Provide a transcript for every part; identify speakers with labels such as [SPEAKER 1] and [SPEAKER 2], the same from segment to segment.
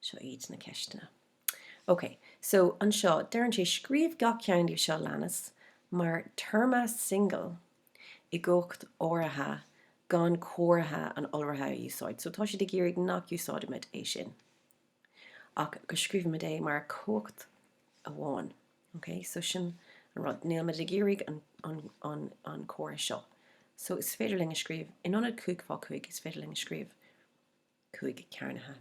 [SPEAKER 1] Seo iad na ceisteanna. Ok, so anseo deireann sé scríobh gach ceann díobh seo leanas mar téarma singil i gcumhacht áirithe gan comhartha an iolraithe a úsáid. So tá siad ag iarraidh nach úsáidimid é sin ach go scríobhaimid é mar chumhacht amháin. Ok, so sin an rud. Nílimid ag iarraidh an comhartha seo. So is féidir linn a scríobh, in ionad cúig fá chúig, is féidir linn a scríobh. cúig cearnaithe.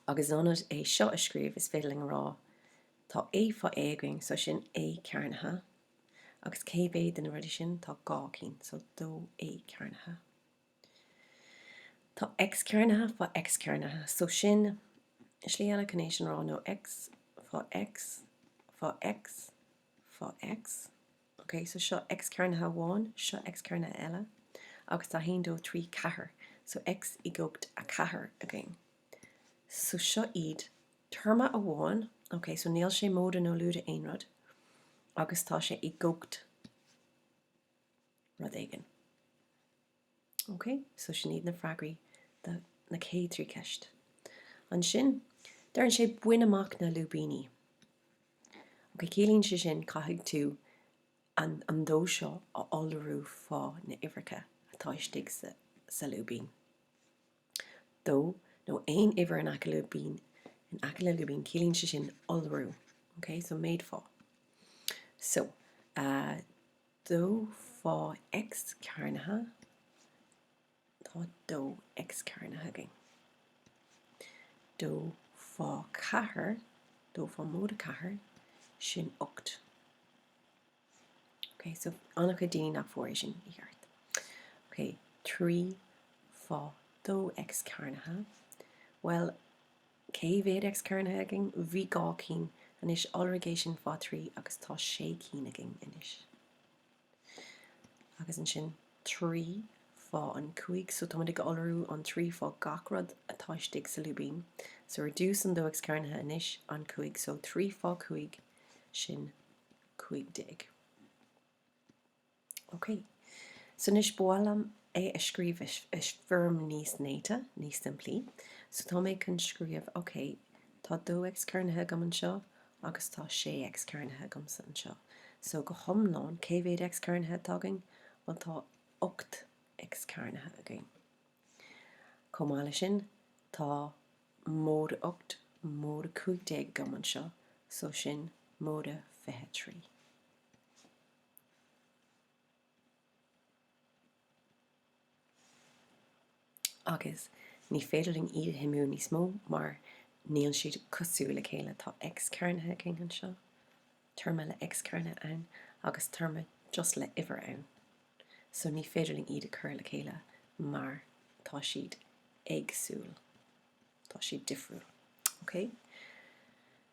[SPEAKER 1] Agus in ionad é seo a scríobh is féidir linn a rá, tá A fá A againn, so sin A cearnaithe. Agus cé mhéad de na rudaí sin? Tá dhá cinn, so dó A cearnaithe. Tá X cearnaithe fá X cearnaithe, so sin slí eile chun é sin a rá, nó X fá X fá X. fá X. Ok, so seo X cearnaithe amháin, seo X cearnaithe eile, agus tá 1, 2, 3, 4, so X i gcumhacht a 4 againn. So seo iad téarma amháin, ok, so níl sé móide nó lúide aon rud, agus tá sé i gcumhacht rud éigin. Ok, so sin iad na freagraí do na céad trí ceist. Ansin, deireann sé bain amach na lúibíní. Ok, ciallaíonn sé sin caithfidh tú an an dó seo a iolrú fá na uimhreacha atá istigh sa sa lúibín. Dó nó aon uimhir in aice lúibín in aice le lúibín ciallaíonn sé sin iolrú. Ok, so méadú fá. So, dó fá X cearnaithe tá dó X cearnaithe againn. dó fá ceathair, dó fá móide ceathair, sin ocht. Ok, so an-chuid daoine nach bhfuair é sin i gceart. Ok, trí fá dó X cearnaithe, bhuel, Cé mhéad X cearnaithe againn? Bhí dhá cinn, anois iolraigh é sin fá thrí agus tá sé cinn againn anois. Agus ansin trí fá an cúig so táimid ag iolrú an trí fá gach rud atá istigh sa lúibín. So ar dtús an dó X cearnaithe anois an cúig so trí fá cúig sin cúig déag. OK. So anois ba mhaith liom é a scríobh i foirm níos néata, níos simplí. So tá mé chun scríobh, OK, tá 2X cearnaithe agam anseo agus tá 6X cearnaithe agamsa anseo. So go hiomlán, cé mhéad X cearnaithe atá againn? Bhuel tá 8X cearnaithe againn. Chomh maith leis sin, tá móide 8, móide 15 agam anseo, so sin móide 23. Agus ní féidir linn iad a shuimiú níos mó mar níl siad cosúil le chéile. Tá X cearnaithe againn anseo, téarma le X cearnaithe ann, agus téarma just le uimhir ann. So ní féidir linn iad a chur le chéile mar tá siad éagsúil, tá siad difriúil. Okay?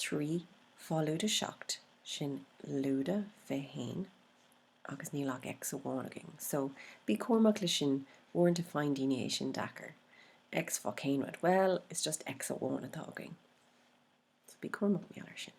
[SPEAKER 1] Trí fá lúide seacht, sin lúide fiche haon agus níl ach X amháin againn so bí cúramach le sin uaireanta faigheann daoine é sin deacair, X fá cén rud, bhuel is just X amháin atá againn so bí cúramach mar gheall ar sin.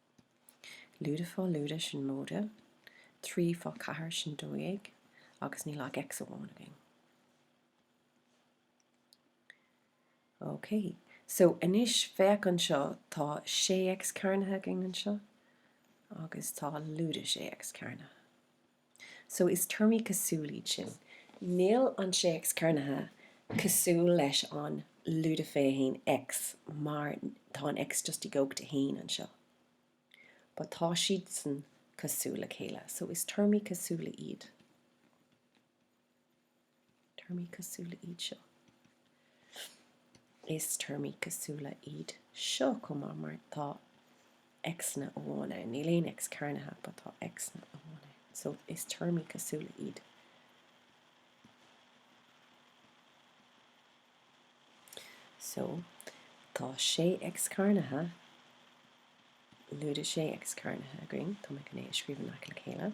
[SPEAKER 1] Lúide fá lúide sin móide, trí fá ceathair sin dó dhéag, agus níl ach X amháin againn. Ok, so anois féach anseo, tá sé X cearnaithe againn anseo, agus tá lúide sé X cearnaithe. So is téarmaí cosúla iad sin. Níl an sé X cearnaithe cosúil leis an lúide fiche haon X mar tá an X just i gcumhacht a haon anseo. But tá siadsan cosúil le chéile. So is téarmaí cosúla iad. Téarmaí cosúla iad seo. Is téarmaí cosúla iad seo chomh maith mar tá X-anna amháin ann. Níl aon X cearnaithe but tá X-anna amháin ann. So is téarmaí cosúla iad. So tá 6 X cearnaithe, lúide 6 X cearnaithe againn. Tá mé chun é a scríobh in aice le chéile.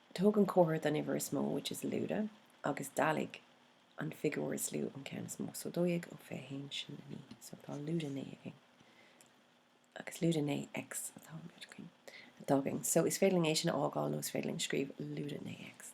[SPEAKER 1] Tóg an comhartha den uimhir is mó, which is lúide, agus dealaigh an figiúr is lú ón ceann is mó. So, dó dhéag ó fiche haon, sin a naoi. So, tá lúide naoi agus lúide naoi X atá, atá againn. So, is féidir linn é sin a fhágáil nó is féidir linn scríobh lúide naoi X.